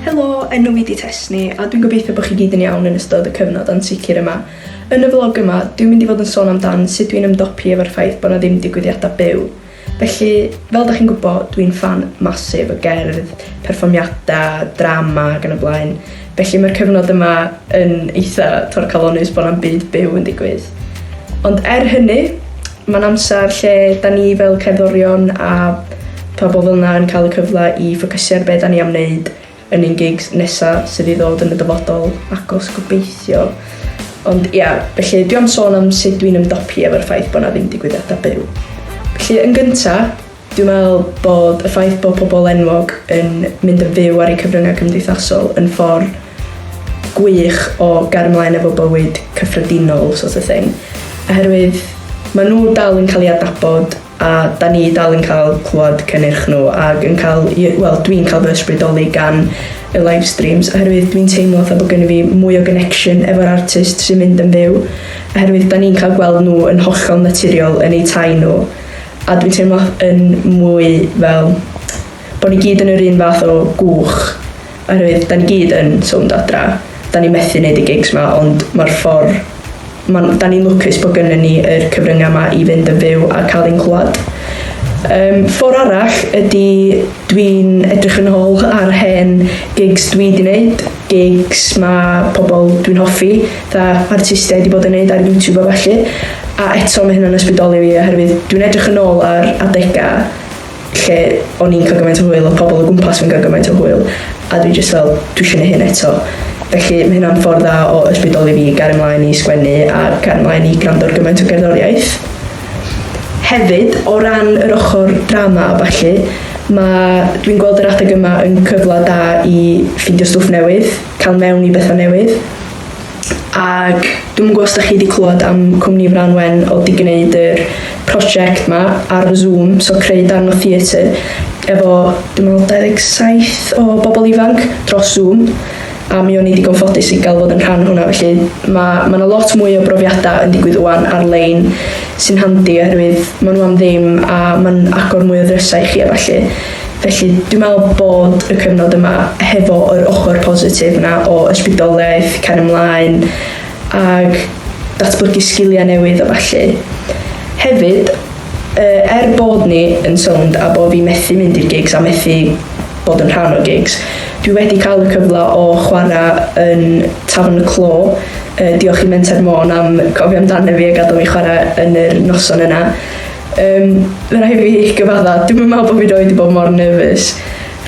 Helo, enw fi 'di Tesni a dwi'n gobeithio bod chi gyd yn iawn yn ystod y cyfnod ansicr yma. Yn y vlog yma, dwi'n mynd i fod yn sôn amdan sut dwi'n ymdopi efo'r ffaith bod 'na ddim digwyddiadau byw. Felly, fel da chi'n gwybod, dwi'n ffan massive o gerdd, perfformiadau, drama ac yn y blaen. Felly mae'r cyfnod yma yn eitha torcalonnus bod 'na'm byd byw yn digwydd. Ond er hynny, Mae'n amser lle da ni fel cerddorion a pha bobl yna yn cael y cyfle i ffocysu ar be da ni am wneud yn ein gigs nesa sydd i ddod yn y dyfodol agos gobeithio. Ond ia, felly dwi am sôn am sut dwi'n ymdopi efo'r ffaith bod na ddim digwyddiadau byw. Felly yn gynta, Dwi'n meddwl bod y ffaith bod pobl enwog yn mynd yn fyw ar eu cyfryngau cymdeithasol yn ffordd gwych o gario ymlaen efo bywyd cyffredinol sort of thing. Oherwydd maen nhw dal yn cael ei adnabod a da ni dal yn cael clywed cynnyrch nhw ac yn cael, wel dwi'n cael fy ysbrydoli gan y live streams oherwydd dwi'n teimlo fatha bod gen i fi mwy o connection efo'r artist sy'n mynd yn fyw oherwydd da ni'n cael gweld nhw yn hollol naturiol yn eu tai nhw A dwi'n teimlo yn mwy fel bod ni gyd yn yr un fath o gwch oherwydd da ni gyd yn sownd adra. Da ni methu wneud y gigs ma ond mae'r ffordd... Ma, da ni'n lwcus bod gynnyn ni yr cyfryngau ma i fynd yn fyw a cael ein clywed. Um, ffordd arall ydy dwi'n edrych yn ôl ar hen gigs dwi di wneud gigs ma pobl dwi'n hoffi, dda artistiaid i bod yn neud ar YouTube a felly, a eto mae hynna'n ysbrydoli fi oherwydd dwi'n edrych yn ôl ar adegau lle o'n i'n cael gymaint o hwyl a pobl o gwmpas fi'n cael gymaint o hwyl a dwi jyst fel dwi eisiau neud hyn eto. Felly mae hynna'n ffordd dda o ysbrydoli fi i gario mlaen i sgwennu a cario mlaen i gwrando ar gymaint o gerddoriaeth. Hefyd, o ran yr ochr drama a ballu, mae... dwi'n gweld yr adeg yma yn cyfle da i ffeindio stwff newydd, cael mewn i bethau newydd. Ac dwi'n gwybod os da chi wedi clywed am cwmni Fran Wen o di gwneud yr prosiect ma ar y Zoom, so creu dan o theatr, efo dwi'n meddwl 27 o bobl ifanc dros Zoom. a mi o'n i digon ffodus i gael fod yn rhan hwnna felly mae ma' 'na lot mwy o brofiadau yn digwydd ŵan ar-lein sy'n handi oherwydd maen nhw am ddim a mae'n agor mwy o ddrysau i chi a falle felly dwi'n meddwl bod y cyfnod yma hefo yr ochr positif yna o ysbrydoliaeth cael ymlaen ag datblygu sgiliau newydd a falle hefyd Yy er bod ni yn sownd a bod fi methu mynd i'r gigs a methu bod yn rhan o gigs, dwi wedi cael y cyfle o chwarae yn Tafern y Clo, yy diolch i Menter Môn am cofio amdano fi a gadael fi chwarae yn yr noson yna. Yym mae'n rhaid fi gyfadda, dwi'm yn meddwl bod fi 'rioed 'di bod mor nervous.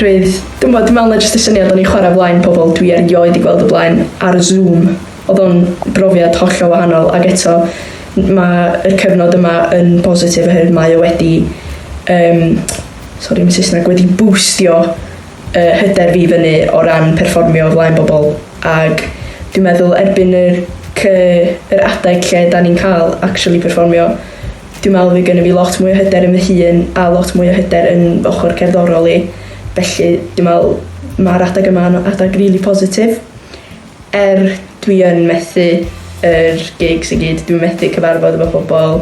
Roedd, dwi'm yn gwbod, dwi'n meddwl na jyst y syniad o'n i'n chwarae o flaen pobl dwi erioed 'di gweld o blaen ar Zoom, oedd o'n brofiad hollol wahanol ac eto Mae y cyfnod yma yn bositif oherwydd mae o wedi, um, sorry, mae Saesneg, wedi bwstio uh, hyder fi fyny o ran perfformio flaen bobl. Ac dwi'n meddwl erbyn yr, yr adeg lle da ni'n cael actually perfformio, dwi'n meddwl fi gynnu fi lot mwy o hyder yn fy hun a lot mwy o hyder yn ochr cerddorol i. Felly dwi'n meddwl mae'r adeg yma yn adeg rili really positif. Er dwi yn methu yr gigs i gyd dwi'n methu cyfarfod efo pobl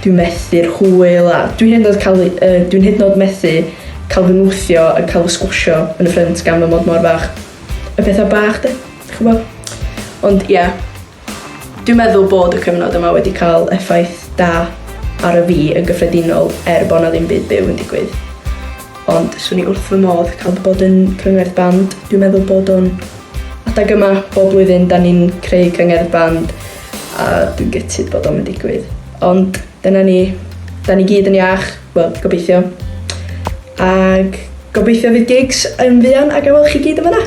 dwi'n methu'r hwyl a dwi hyd yn oed cael yy dwi'n hyd yn oed methu cael fy nwthio yn cael fy sgwsio yn y ffrynt gan fy mod mor fach. Y petha bach 'de? Dych ch'mo'? Ond ia. Dwi'n meddwl bod y cyfnod yma wedi cael effaith da ar y fi yn gyffredinol er bo' 'na ddim byd byw yn digwydd. Ond swn i wrth fy modd ca'l bod yn crynwr band dwi'n meddwl bod o'n Adeg yma bob blwyddyn da ni'n creu cyngerdd band a dwi'n gytid bod o'n mynd digwydd. Ond dyna ni, da ni gyd yn iach, wel, gobeithio. Ac gobeithio fydd gigs yn fuan a gael chi gyd yn fyna.